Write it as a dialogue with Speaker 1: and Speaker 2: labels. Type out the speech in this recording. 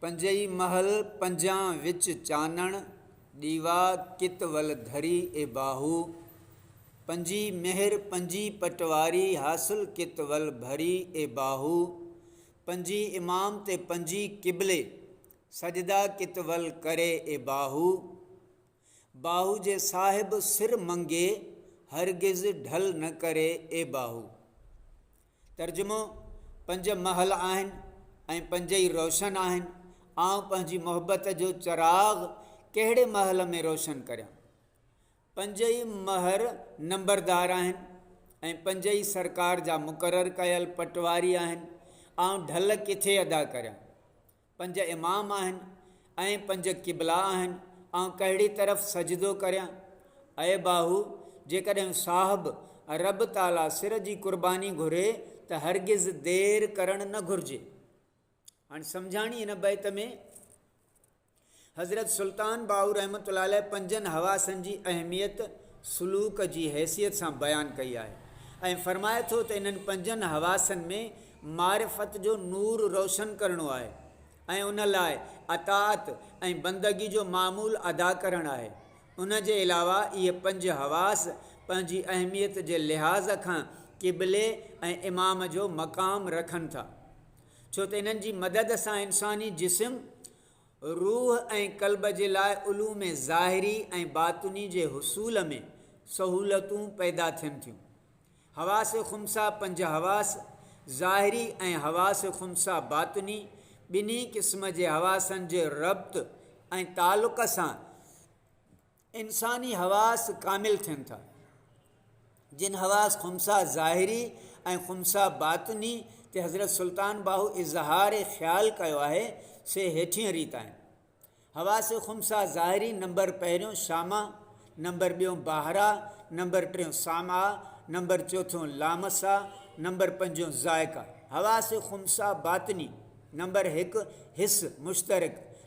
Speaker 1: پنجئي محل پنجان وچ چانڻ، ڏيوا ڪت ول ڌري اي باهو. پنجي مهر پنجي پٽواري، حاصل ڪت ول ڀري اي باهو. پنجي امام تي پنجي قبلي، سجدا ڪت ول ڪري اي باهو. باهو جي صاحب سر منگي، هرگز ڍل نه ڪري اي باهو. ترجمو، پنج محل آهن ۽ پنج ئي روشن آهن، آئون پنهنجي محبت جو چراغ ڪهڙي محل ۾ روشن ڪريان؟ پنج ئي مهر نمبردار آهن ۽ پنج ئي سرڪار جا مقرر ڪيل پٽواري آهن، آئون ڍل ڪٿي ادا ڪريان؟ پنج امام آهن ۽ پنج قبلا آهن، آئون ڪهڙي طرف سجدو ڪريان؟ اي باهو! جيڪڏهن صاحب رب تعاليٰ سر جي قرباني گهري ته هرگز دير ڪرڻ نه گهرجي. هاڻي سمجهاڻي هن بيت ۾ حضرت سلطان باهو رحمة الله عليه پنجن حواسن جي اهميت سلوڪ جي حيثيت سان بيان ڪئي آهي ۽ فرمائي ٿو ته انهن پنجن حواسن ۾ معرفت جو نور روشن ڪرڻو آهي ۽ ان لاء اطاعت ۽ بندگي جو معمول ادا ڪرڻ آهي ان جي علاوه اهي پنج حواس پنهنجي اهميت جي لحاظ کان قبلي ۽ امام جو مقام رکن ٿا ڇو ته انهن جي مدد سان انساني جسم روح ۽ قلب جي لاء علوم ظاهري ۽ باطني جي حصول ۾ سهولتون پيدا ٿين ٿيون. حواس خمسه پنج حواس ظاهري ۽ حواس خمسه باطني ٻنهي قسم جي حواسن جي ربط ۽ تعلق سان انساني حواس ڪامل ٿين ٿا، جن حواس خمسه ظاهري ۽ خمسه باطني تي حضرت سلطان باهو اظهار خيال ڪيو آهي، سي هيٺينء ريت آهن. حواس خمسه ظاهري نمبر پهريون شامع، نمبر ٻيون باهرا، نمبر ٽيون سامعا، نمبر چوٿون لامسا، نمبر پنجون ذائقا. حواس خمسه باطني نمبر هڪ حس، مشترڪ،